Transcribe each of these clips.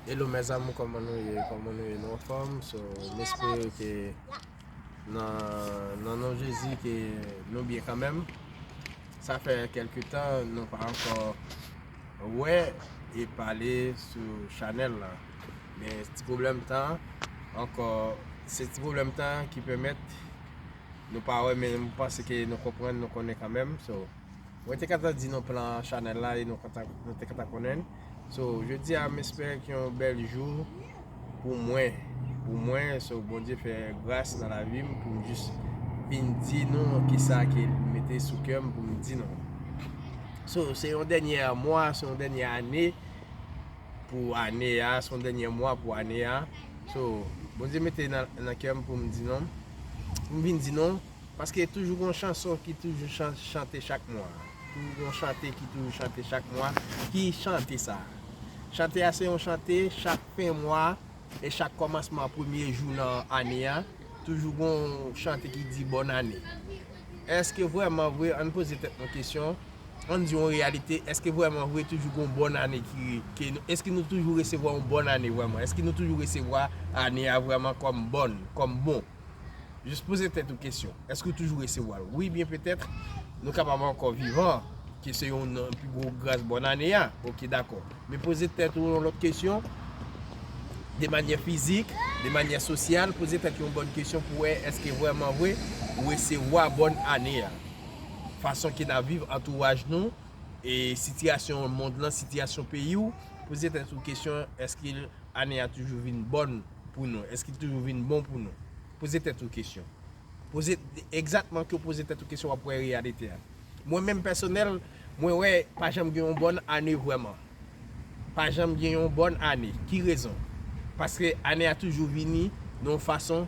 Hello mes amour koman nou ye koman nou ye nou anfom so m espere ke nan non jezi ke nou byen kanmenm sa fè kelke tan nou pa anko wè e pale sou chanel la men ti problem tan anko se ti problem tan ki pemet nou pa wè men m panse ke nou konprann nou konnen kanmenm so Mwen te kata di nou plan chanèl la e nou te kata konnenn So jodi a m espere ki yon bèl jou pou mwen Pou mwen so Bondye fè gras nan lavi m pou m jis vin di nou ki sa ke l mete sou kè m pou m di nou So se yon dènyè mwa se yon dènyè ane pou ane a se yon dènyè mwa pou ane a So Bondye mete nan kè m pou m di nou Pou m vin di nou Paske toujou gon chanson ki toujou chante chak mwa. Toujou gon chante ki toujou chante chak mwa. Ki chante sa? Chante a se yon chante chak fen mwa e chak kòmansman premye jou nan ane a. Toujou gon chante ki di bòn ane. Eske vrèman vre, ann poze tèt nou kesyon, ann di yon reyalite, eske vrèman vre toujou gon bòn ane ki, eske nou toujou resevwa yon bòn ane vrèman? Eske nou toujou resevwa ane a vrèman kòm bòn, kòm bon? Jis poze tèt ou kesyon, èske ou toujou resevwa l? Wi byen petèt nou kapab ankò vivan, ke se youn nan pi gwo gras bòn ane a, ok dakò. Men poze tèt ou yon lòt kesyon, de manyè fizik, de manyè sosyal, poze tèt ou yon bòn kesyon pou wè èske vrèman vre ou resevwa bòn ane a. Fason ke n ap viv, antouraj nou, e sitiyasyon mond lan, sitiyasyon peyi ou, poze tèt ou kesyon èske ane a toujou vin bòn? pou nou? Èske li toujou vin bon pou nou? Poze tèt ou kesyon. Poze, egzatman ke w poze tèt ou kesyon w ap wè reyalite a. Mwen menm pèsonèl, mwen wè pa janm gen yon bòn ane vrèman. Pa janm gen yon bòn ane. Ki rezon? Paske ane a toujou vini nan yon fason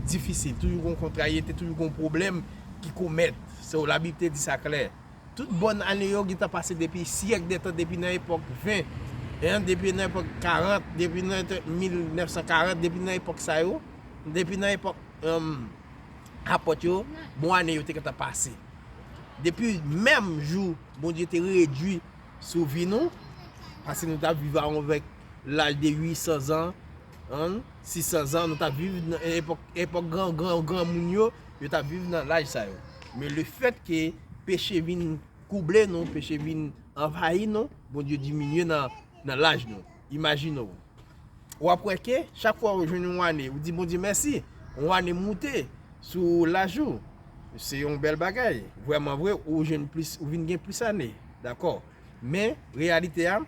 difisil. Toujou gen yon kontrayete, toujou gen yon pwoblèm ki komèt. Sewolabib te di sa klè. Tout bòn ane yo gentan pase depi syèk dè tan, depi nan epòk 20, hein, depi nan epòk 40, depi nan 1940, depi nan epòk sa yo, depi nan epòk, humm, Apòt yo, bon ane yo te gentan pase. Depi menm jou Bondye te redui sou vi nou, pase nou ta viv avèk laj de 800 zan, An 600 zan nou tap viv nan epòk epòk gran gran granmoun yo yo tap viv nan laj sa yo men le fèt ke peche vin kouble nou peche vin anvayi nou Bondye diminye nan nan laj nou imajine ou wap wè ke chak fwa ou jwenn yon ane ou di Bondye mèsi yon ane moute sou laj ou se yon bèl bagay vrèman vre ou jwenn plis ou vin gen plis ane dakò men reyalite a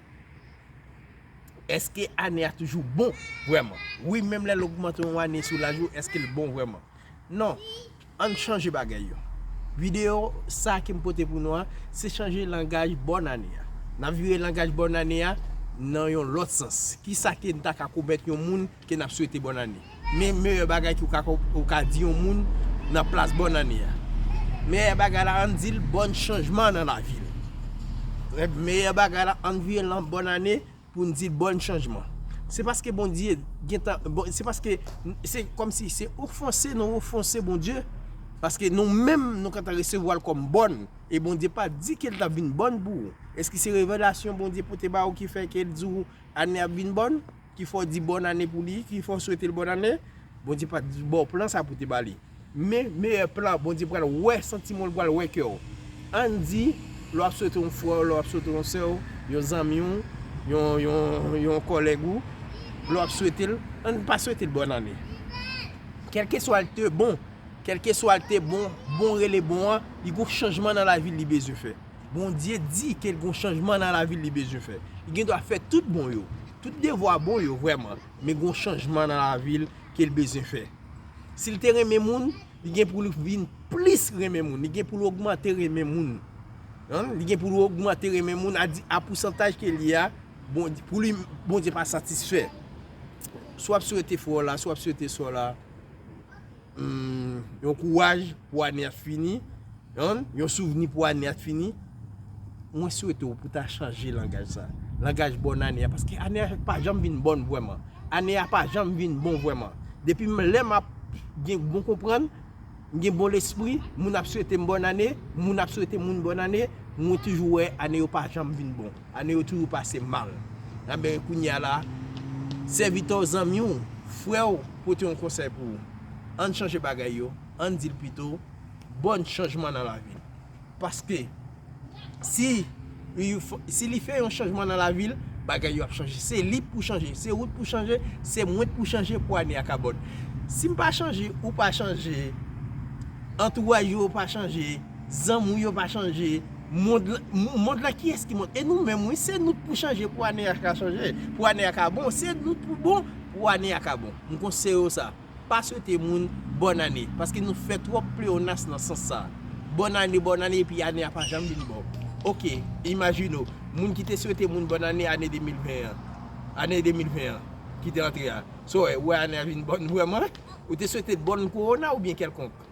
Eske ane a toujou bon vrèman? Wi, menm lè l ogmante yon ane sou laj ou, eske l bon vrèman? Non. Ann chanje bagay yo. Videyo sa ke m pote pou nou an, se chanje langaj bòn ane a. N ap vire langaj bòn ane a nan yon lòt sans. Kisa ke n ta ka pwomèt yon moun? Ke nap swete bòn ane. Men meyè bagay ki ou ka di yon moun nan plas bòn ane a. Meyè bagay la ann dil bòn chanjman nan lavi l. Rèv meyè bagay la ann vire l nan bòn ane poun dil bòn chanjman. Se paske Bondye gentan se paske se kòmsi se ofanse nou ofanse Bondye paske nou menm nou gentan resevwa l kòm bòn e Bondye pa di ke l tap vin bòn pou ou. Eske se revelasyon Bondye pote ba ou ki fè ke l di ou ane a ap vin bòn? ki fè w di bòn ane pou li, ki fè w swete l bòn ane, Bondye pa t ba w plan sa pou w te ba li. Men, meyè plan an, Bondye pral wè santiman w, li pral wè kè w. Ann di, lè w ap swete yon frè w, lè w ap swete yon sè w, yon zanmi w, yon kòlèg ou, lè w ap swete l, ann pa swete l bòn ane. Kèlkeswa l te bon, kèlkeswa l te bon, bon rele bon an, li gen yon chanjman nan lavi l li bezwen fè. Bondye di ke l gen yon chanjman nan lavi l li bezwen fè. Li gen dwa fè tout bon yo. Tout devwa bon yo vrèman, men gon chanjman nan lavil kel bezyen fè. Sil te renmen moun, li gen poul vin plis renmen moun, li gen poul ogmante renmen moun. Li gen poul ogmante renmen moun a pousantaj kel ye a, pou li Bondye pa satisfè. Si wap swete frè w la, si wap swete sè w la. yon kouraj pou ane a t fini, yon souvni pou ane a t fini, mwen swete w pou ta chanje langaj sa, langaj bòn ane a, paske ane a pa janm vin bòn vwèman, ane a pa janm vin bon vwèman, depi m lè m ap gen bon konprann, m gen bon lespri, moun ap swete m bòn ane, moun ap swete moun bòn ane, mwen toujou wè ane yo pa janm vin bon. Ane yo toujou pase mal. Enben, kounye a la, sèvitè w, zanmi w, frè w pote yon konsèy pou ou, Ann chanje bagay yo, ann di l pito, Bòn chanjman nan lavi n. Paske, si si li fè yon chanjman nan lavi l, bagay yo ap chanje. Se li pou chanje, se ou t pou chanje, se mwen t pou chanje pou ane a ka bòn. Si m pa chanje, ou pa chanje, antouwaj ou yo pa chanje, zanmi w yo pa chanje, Mond lan, mond lan kiyès ki mond? E nou menm wi, se nou k pou chanje pou ane a ka chanje, pou ane a ka bon, se nou k pou bon pou ane a ka bon. M konseye w sa, pa swete moun bòn ane, paske nou fè twòp pleyonas nan sans sa. Bòn ane, bòn ane epi ane a pa janm vin bon. Ok, imajine w, moun ki te swete moun bòn ane ane 2020 an, ane 2020 an ki te antre a, sa w wè, ou wè ane a vin bòn vrèman? Ou te swete l bòn kowona oubyen kèlkonk?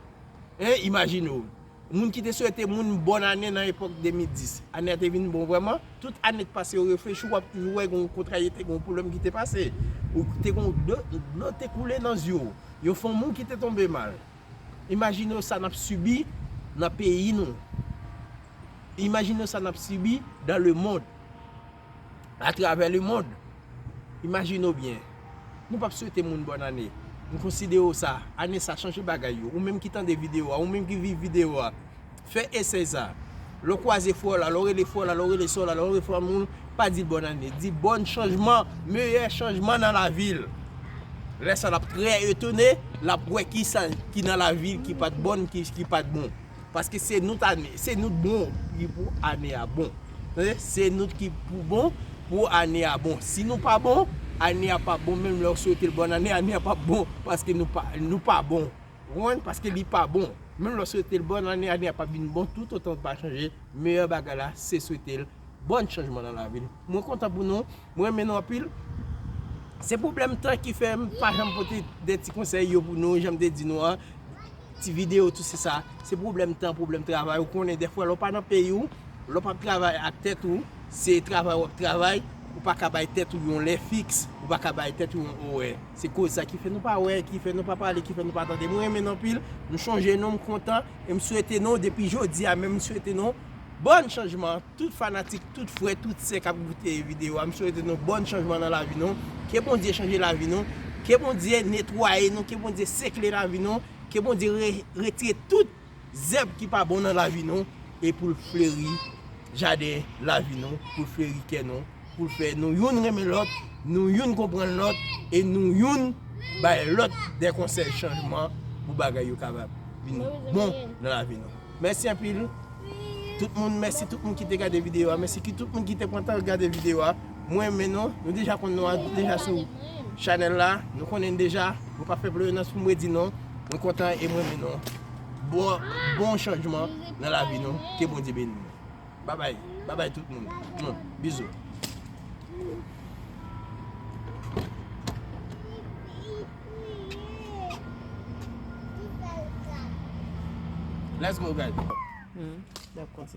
Hein, imajine w. Moun ki te swete moun bòn ane nan epòk 2010. Ane a te vin bon vrèman. Tout ane k pase yo reflechi w ap toujou wè gen yon kontrariyete, gen yon pwoblèm ki te pase. Ou te gen dlo te koule nan zye w. Yon fanm ou ki te tonbe mal. Imajine w sa n ap sibi nan peyi nou. Imajine w sa n ap sibi dan lemond. atravè lemond. Imajine w byen, nou pap swete moun bòn ane. M konsidere w sa, ane sa chanje bagay yo. Ou menm ki tande videyo a, ou menm ki viv videyo a, fè esèy sa. Lè w kwaze frè w la, lè w rele frè w la, lè w rele sè w la, lè w rele fanmi w, pa di l bòn ane. Di bòn chanjman, meyè chanjman nan lavi l. Lè sa l ap trè etone, l ap wè kisa ki nan lavi l ki pat bòn, ki pat bon. Paske se nou tane, se nou bon ki pou ane a bon. Tande, se nou ki pou bon pou ane a bon. Si nou pa bon, ane a pa bon menm lè ou swete l bòn ane, ane a pa bon paske nou pa, nou pa bon. Ou konprann? Paske li pa bon. Menm lè ou swete l bòn ane, ane a pap vin bon toutotan ou pa chanje. Meyè bagay la se swete l. Bon chanjman nan lavi nou. Mwen kontan pou nou. Mwen renmen nou anpil. Se pwoblèm tan ki fè m pa janm pote de ti konsèy yo pou nou jan m te di nou an. Ti videyo tou se sa. Se pwoblèm tan, pwoblèm travay. Ou konnen dèfwa lè w pa nan peyi w, lè w pa ap travay ak tèt ou, se travay w ap travay, ou pa ka bay tèt ou yon lè fiks, ou pa ka bay tèt ou yon orè. Se koz sa ki fè nou pa wè, ki fè nou pa pale, ki fè nou pa tande. Mwen renmen nou anpil. M chonje nou, m kontan. E m swete nou depi jodi a menm m swete nou. Bòn chanjman tout fanatik tout frè tout sè kap goute video a m swete nou bòn chanjman nan lavi nou ke Bondye chanje lavi nou ke Bondye netwaye nou ke Bondye sekle lavi nou ke Bondye retire tout zèb ki pa bon nan lavi nou e poul fleri jaden lavi nou poul fleri kè nou poul fè nou youn renmen lòt nou youn konprann lòt e nou youn bay lòt de konsèy chanjman pou bagay yo ka vin bon nan lavi nou. Mèsi anpil tout moun mèsi tout moun ki te gade video a mèsi ki tout moun ki te pran tan gade video a mwen renmen nou nou deja konn nou an deja sou Chanel la nou konnen deja mwen pa fè ployonans poum redi nou mwen kontan e mwen renmen nou bon chanjman nan lavi nou ke Bondye beni nou. Babay babay tout moun moun bizou. Let's go guys. Hmm, dap konti.